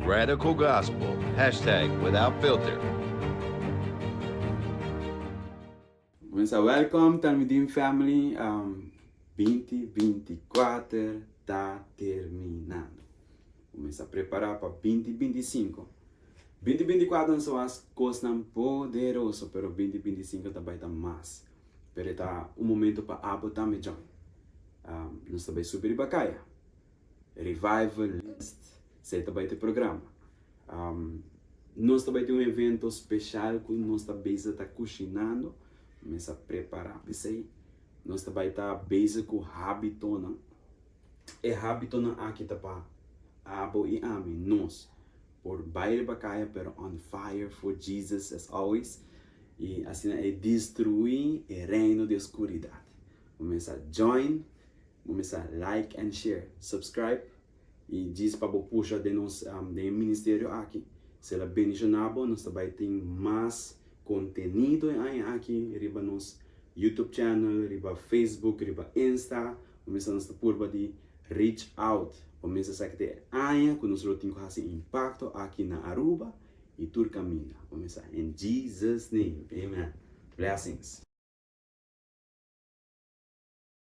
RadicalGospel, hashtag WithoutFilter. Wen sa welkom Talmidim family binti binti kuater ta terminando ku men sa prepara pa binti binti sinku binti binti kuater nan so has kosnan poderoso pero binti binti sinku ta bai ta mas pero e ta un momento pa abo tambe John nos ta bai subi riba kaya Revival List, esei ta bai ta e programa. Nos ta bai ta un evento special cu nos ta bezig ta cucinando, mes a prepara pesey nos ta bai ta bezig cu habitonan, e habitonan aki ta pa abo y ami, nos por bai riba caya pero on fire for Jesus as always y asina e destrui e reino di oscuridad. Bo mes a join Bo mester a like and share, subscribe y djis pa bo pusha den nos den e ministerio aki. Si el a bendiciona bo nos ta bay tin mas contenido e aña aki riba nos YouTube channel, riba Facebook, riba Insta. Bo mester nos ta purba di reach out pa mester a sa ke ta e aña cu nos lo tin cu haci impacto aki na Aruba y tur caminda. Bo mester a in Jesus name, amen. Blessings.